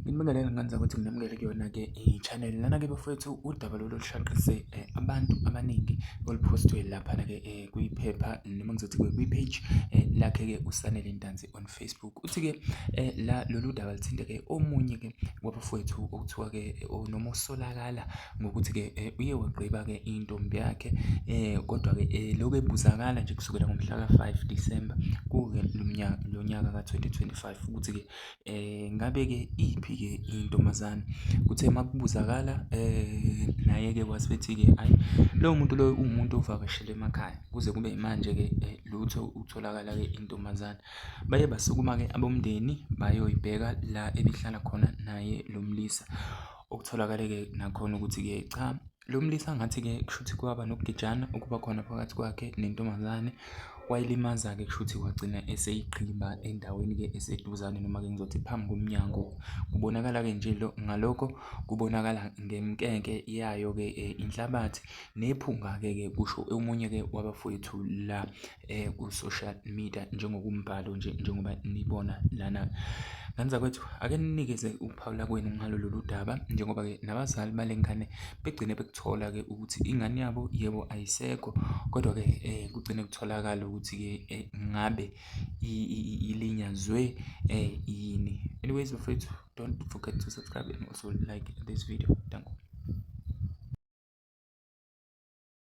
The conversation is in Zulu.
Nginibonele nganza ukuthi nginamukele kuyona-ke i-channel. Lana-ke bafowethu udaba lolu olushaqise eh, abantu abaningi oluphostwe laphana-ke eh, kwiphepha noma ngizothi kwi-page eh, lakhe-ke uSanele Ntanzi on Facebook. Uthi-ke la lolu daba luthinte-ke omunye-ke wabafowethu okuthiwa-ke noma osolakala ngokuthi-ke uye wagqiba-ke intombi yakhe kodwa-ke lokhu ebuzakala nje kusukela ngomhla ka-five December kuke lo nyaka ka-twenty twenty-five ukuthi-ke Ngabe-ke iyiphi-ke intombazane? Kuthe uma kubuzakala naye-ke wase ethi-ke ayi lowo muntu loyo uwumuntu ovakashele emakhaya, kuze kube yimanje-ke lutho ukutholakala-ke intombazane. Baye basukuma-ke abomndeni bayoyibheka la ebihlala khona naye lo mlisa, okutholakale-ke nakhona ukuthi-ke cha. Lo mlisa ngathi-ke kushuthi kwaba nokugejana okuba khona phakathi kwakhe nentombazane. Wayilimaza-ke kushuthi wagcina eseyiqhiba endaweni-ke eseduzane noma-ke ngizothi phambi komnyango. Kubonakala-ke nje lo ngalokho kubonakala ngemkenke yayo-ke eh, inhlabathi nephunga-ke ke kusho omunye-ke wabafowethu la. um ku-social media njengokumbhalo nje njengoba nibona lana. Ngane zakwethu ake ninikeze ukuphawula kwenu ngalo lolu daba njengoba-ke nabazali bale ngane begcine bekuthola-ke ukuthi ingane yabo yebo ayisekho kodwa-ke um kugcine kutholakala ukuthi-ke um ngabe ilinyazwe um yini. Anyways bafethu don't forget to subscribe and also like this video. Danko.